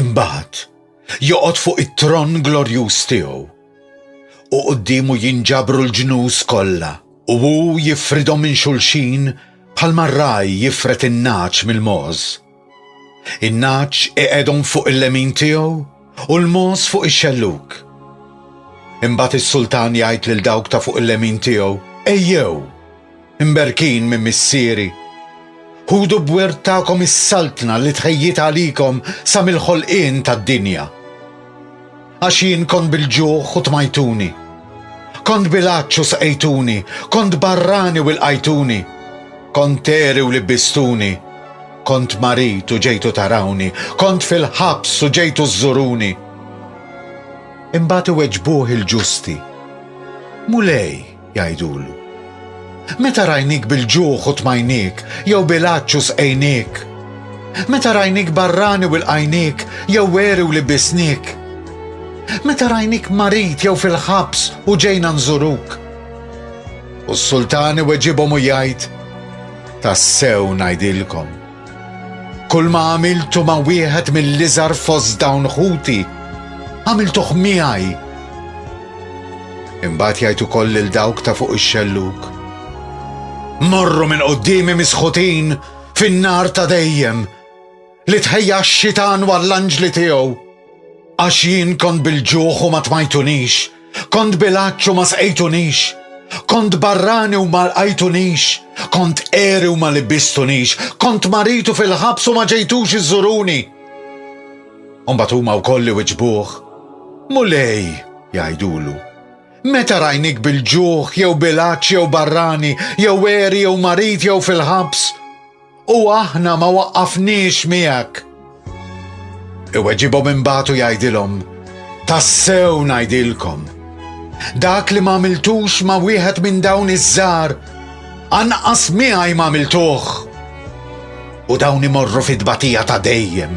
Imbagħad joqgħod fuq it-tron glorjuż tiegħu u quddiemu jinġabru l-ġnus kollha u hu jifridhom minn xulxin bħalma r-ragħaj jifred in-nagħaġ mill-mogħoż. In-nagħaġ iqegħdhom fuq il-lemin tiegħu u l-mogħoż fuq ix-xellug. Imbagħad is-sultan jgħid lil dawk ta' fuq il-lemin tiegħu, Ejjew, Imberkin minn Missieri. Ħudu b'wirt tagħkom is-saltna li tħejjitha għalikom sa mill-ħolqien tad-dinja. Għax jien kont bil-ġuħ u tmajtuni. Kont bil-għatx u sqejtuni, kont barrani u lqajtuni. Kont għeri u libbistuni. Kont marid u ġejtu tarawni, kont fil-ħabs u ġejtu żżuruni. Imbagħad iweġbuh il-ġusti, Mulej, Jgħidulu, Meta rajniek bil-ġuħ u tmajniek, jew bil-għatx u sqejniek? Meta rajniek barrani u lqajniek, jew għeri u libbisniek? Meta rajniek marid jew fil-ħabs u ġejna nżuruk? U s-sultan iweġibhom u jgħid, Tassew ngħidilkom, Kulma għamiltu ma' wieħed mill-iżgħar fost dawn ħuti, għamiltuh miegħi. Imbagħad jgħid ukoll lil dawk ta' fuq ix-xellug. Morru minn quddiemi misħutin fin-nar ta' dejjem li tħejja x-xitan għall-anġli tiegħu. Għax jien kont bil-ġuħ u ma tmajtunix, kont bil-għatx u ma sqejtunix, kont barrani u ma lqajtunix, kont għeri u ma libbistunix, kont marid u fil-ħabs u ma ġejtux iżżuruni. U mbagħad huma wkoll iwiġbuh, Mulej, jgħidulu, meta rajnik bil-ġuħ jew bil-għatx jew barrani jew għeri jew marid jew fil-ħabs? U aħna ma waqqafniex miegħek. Iweġibhom imbagħad u jgħidilhom, Tassew ngħidilkom, dak li m'għamiltux ma' wieħed minn dawn iż-żgħar, anqas miegħi m'għamiltuh. U dawn imorru fit-tbatija ta' dejjem.